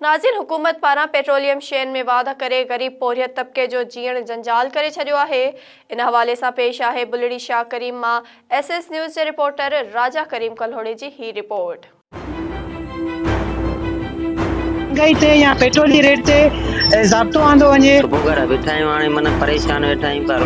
ناظر حڪومت پاران پيٽروليم شين ۾ واڌ ڪري غريب پورهيت طبقي جو جيئڻ جنجال ڪري ڇڏيو آهي ان حوالي سان پيش آهي بلڙي شاهه ڪريم مان ايس ايس نيوز جي رپورٽر راجا ڪريم ڪلهوڙي جي هي رپورٽ. مهانگائي تي يا پيٽرول جي ريٽ تي ضابطو آندو وڃي. صبح کان ويٺا آهيون هاڻي من پريشان ويٺا آهيون پر.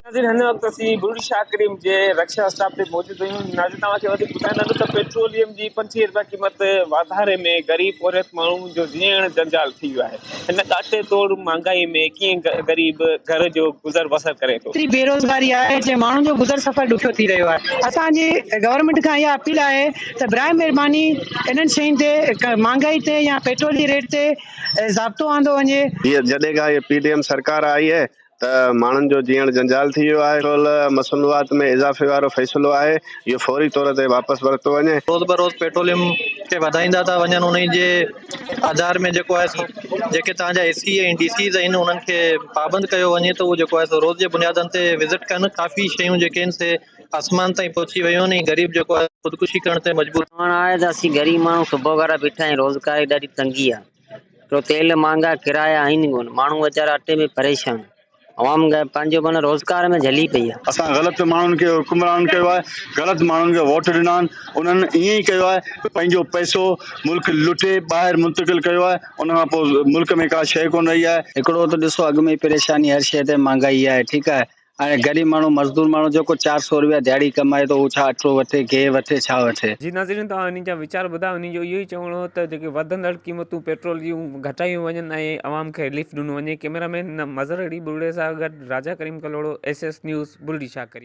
ناظرين هن وقت اسين بلڙي شاهه ڪريم جي رڪشا اسٽاپ تي موجود. ناظرين توهان کي وڌيڪ ٻڌائيندا ته پيٽروليم جي پنجويهه رپيا قيمت واڌاري ۾ غريب پورهيت ماڻهن جو جيئڻ جنجال ٿي ويو آهي هن ڪاٽي توڙ مهانگائي ۾ ڪيئن غريب گهر جو گذر بسر ڪري ٿو ايتري بيروزگاري آهي جنهن ماڻهن جو گذر سفر ڏکيو ٿي رهيو آهي اسان جي گورنمينٽ کان اها اپيل آهي ته برائي مهرباني انهن شين تي مهانگائي تي يا پيٽرول جي ريٽ تي ضابطو آندو وڃي. جڏهن کان هي پي ڊي ايم سرڪار آئي آهي ته ماڻهن جو جيئڻ جنجال ٿي ويو آهي، ٽول مصنوعات ۾ اضافي وارو فيصلو آهي، اهو فوري طور تي واپس ورتو وڃي. روز به روز پيٽروليم کي وڌائيندا ٿا وڃن انهي جي آڌار ۾ جيڪو آهي سو جيڪي تهان جا اي سي ۽ ڊي سيز آهن انهن کي پابند ڪيو وڃي ته اهو جيڪو آهي سو روز جي بنيادن تي وزٽ ڪن ڪافي شيون جيڪي آهن سي آسمان تائين پهچي ويون آهن ۽ غريب جيڪو آهي خودڪشي ڪرڻ تائين مجبور چوڻ آهي ته اسين غريب ماڻهو صبح کان بيٺا آهيون روزگار جي ڏاڍي تنگي آهي. ڇو تيل مھانگا ڪرايا آھن ڪون ماڻھو ويچارا اٽي ۾ پريشان عوام پنھنجو پان روزگار ۾ جھلي پئي آھي. اسان غلط ماڻهن کي حڪمران ڪيو آهي غلط ماڻهن کي ووٽ ڏنا آهن انهن ائين ئي ڪيو آهي پنهنجو پئسو ملڪ لٽي ٻاهر منتقل ڪيو آهي ان کان پوء ملڪ ۾ ڪا شيء ڪونه رهي آهي. هڪڙو ته ڏسو اڳ ۾ ئي پريشاني هر شيء تي مھانگائي آهي ٺيڪ آهي ۽ غريب ماڻهو، مزدور ماڻهو جيڪو چار سؤ روپيا ڌياڙي ڪمائي ٿو، هو ڇا اٽو وٺي، گيهه وٺي، ڇا وٺي؟ جي ناظرين توهان انهن جا ويچار ٻڌا انهن جو اهو ئي چوڻ هو ته جيڪي وڌندڙ قيمتون پيٽرول جون گهٽايون وڃن ۽ عوام کي رليف ڏنو وڃي ڪئميرا مين مظهر علي ٻرڙي سان گڏ Raja Karim Kalhoro S S news Bulri Shah ڪريم.